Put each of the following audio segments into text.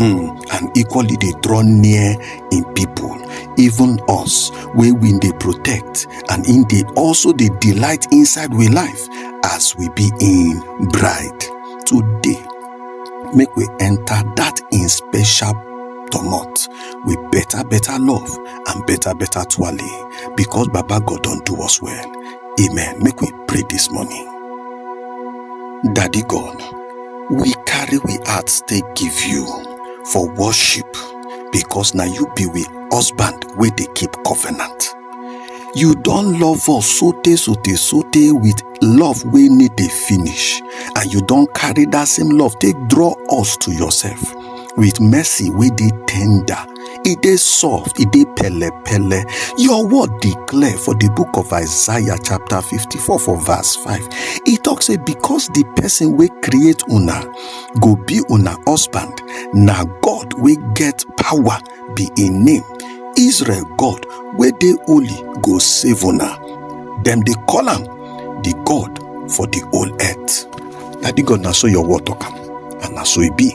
um and equally dey draw near im people even us wey we dey protect and im dey also dey delight inside we life as we be im bride today make we enter that im special domot with better better love and better better twale because baba god don do us well amen make we pray this morning daddy god we carry we hearts take give you for worship because na you be we husband wey dey keep covenant you don love us sote sote sote with love wey no dey finish and you don carry that same love take draw us to yourself with mercy wey dey tender e dey soft e dey pele pele your word dey clear for the book of isaiah chapter 54 for verse 5 e talk say because the person wey create una go be una husband na god wey get power be im name israel god wey dey holy go save una dem dey call am the god for the whole earth na the god na so your word talk am and na so e be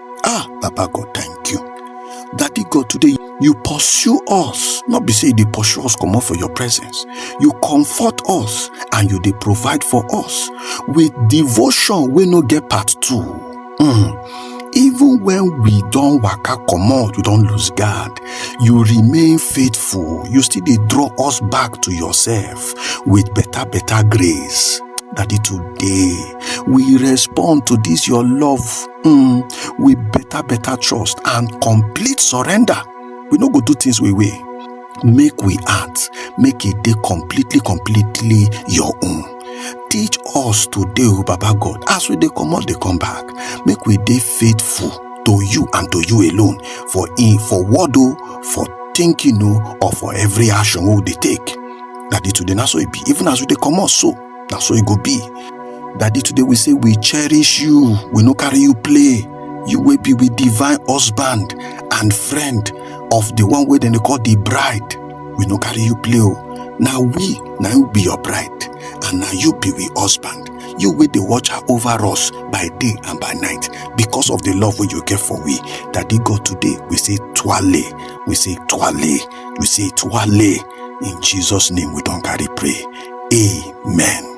ah baba god thank you daddy god today you pursue us not be say you dey pursue us comot for your presence you comfort us and you dey provide for us with devotion wey no get part two mm. even when we don waka comot we don lose guard you remain faithful you still dey draw us back to yourself with better better grace daddy today we respond to this your love mm, with better better trust and complete surrender we no go do things we way make we act make it dey completely completely your own teach us today o baba god as we dey comot dey come back make we dey faithful to you and to you alone for in for word o for thinking o or for every action wey we dey take daddy today na so e be even as we dey comot so na so e go be daddy today we say we cherish you we no carry you play you wey be with divine husband and friend of the one wey dem dey call the bride we no carry you play o na we na you be your bride and na you be we husband you wey dey watch her over us by day and by night because of the love wey you get for we daddy god today we say twale we say twale we say twale in jesus name we don carry pray Amen.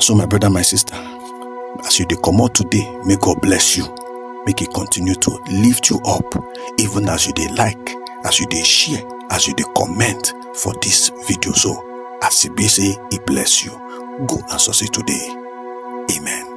So, my brother, my sister, as you dey comot today, may God bless you. Make He continue to lift you up, even as you dey like, as you dey share, as you dey comment for this video. So, as it be say, He bless you. Go and succeed today. Amen.